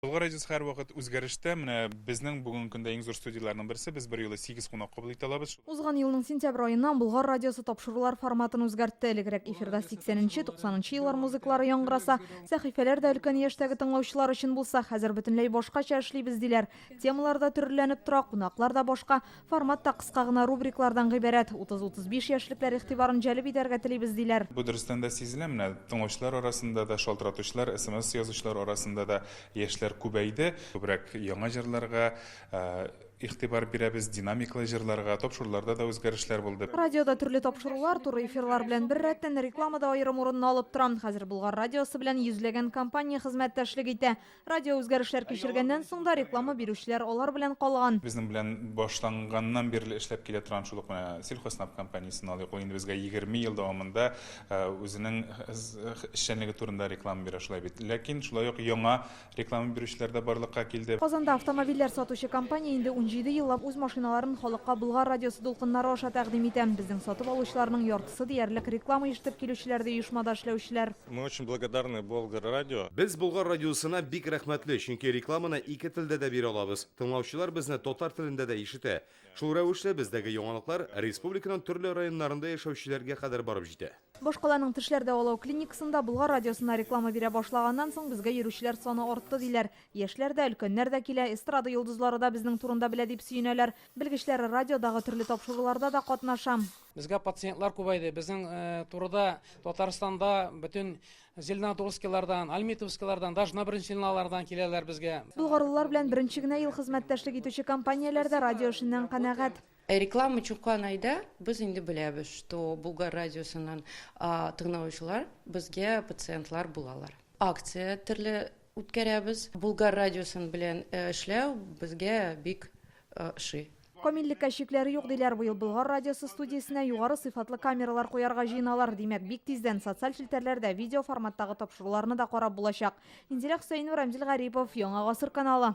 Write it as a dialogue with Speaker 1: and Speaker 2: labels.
Speaker 1: Болгар радиосы һәрвакыт үзгәрештә. Менә безнең бүгенге көндә иң зур студияләрнең берсе. Без берьюлы сигез кунак кабул итә алабыз. Узган елның сентябрь
Speaker 2: аеннан Болгар радиосы тапшырулар форматын үзгәртте. Элегрәк эфирда сиксәненче, туксанынчы еллар музыкалары яңгыраса, сәхифәләр дә өлкән яшьтәге тыңлаучылар өчен булса, хәзер бөтенләй башкача эшлибез, диләр. Темалар да төрлеләнеп тора, кунаклар да башка. Формат та кыска гына рубриклардан гыйбарәт. Утыз-утыз биш яшьлекләр игътибарын җәлеп итәргә телибез, диләр. Бу дөрестән дә сизелә,
Speaker 1: менә тыңлаучылар арасында да, шалтыратучылар, смс язучылар арасында да яшьләр күбәйде. Күбрәк яңа җырларга игътибар бирәбез, динамикалы җырларга. Тапшыруларда да үзгәрешләр булды. Радиода төрле тапшырулар,
Speaker 2: туры эфирлар белән беррәттән, реклама да аерым урынны алып тора. Хәзер Болгар радиосы белән йөзләгән компания хезмәттәшлек итә. Радио үзгәрешләр кичергәннән соң да реклама бирүчеләр алар белән калган. Безнең белән
Speaker 1: башланганнан бирле эшләп килә торган шул ук менә Сельхоснаб компаниясен алыйк. Ул инде безгә 20 ел дәвамында үзенең эшчәнлеге турында реклама бирә шулай бит. Ләкин шулай ук яңа реклама бирүчеләр дә барлыкка килде. Казанда автомобильләр
Speaker 2: сатучы компания инде унҗиде еллап үз машиналарын халыкка Болгар радиосы дулкыннары аша тәкъдим итә. Безнең сатып алучыларның яртысы диярлек реклама ишетеп килүчеләр дә оешмада эшләүчеләр. Мы очень благодарны
Speaker 3: Болгар радио. Без Болгар радиосына
Speaker 4: бик рәхмәтле, чөнки рекламаны ике телдә дә бирә алабыз. Тыңлаучылар безне татар телендә дә ишетә. Шул рәвешле бездәге яңалыклар республиканың төрле районнарында яшәүчеләргә кадәр барып җитә. Башкаланың тешләр
Speaker 2: дәвалау клиникасында Болгар радиосына реклама бирә башлаганнан соң безгә йөрүчеләр саны артты, диләр. Яшьләр дә, өлкәннәр дә килә, эстрада йолдызлары да безнең турында белә дип сөенәләр. Белгечләр, радиодагы төрле тапшыруларда да катнашам. Безгә пациентлар
Speaker 5: күбәйде. Безнең турыда Татарстанда бөтен Зеленодольскилардан, Альметьевскилардан, даже на Брынчинлалардан киләләр безгә. Болгарлылар белән беренче
Speaker 2: генә ел хезмәттәшлек итүче компанияләр дә радио эшеннән канәгать. Реклама чуккан
Speaker 6: айда без инде беләбез, что Булгар радиосыннан тыңлаучылар безгә пациентлар булалар. Акция төрле үткәрәбез. Булгар радиосын белән эшләү безгә бик ошый. Камиллеккә
Speaker 2: чикләр юк, диләр. Быел Болгар радиосы студиясенә югары сыйфатлы камералар куярга җыеналар. Димәк, бик тиздән социаль челтәрләрдә видеоформаттагы тапшыруларны да карап булачак. Индирә Хөсәенова, Рамзил Гарипов, Яңа гасыр каналы.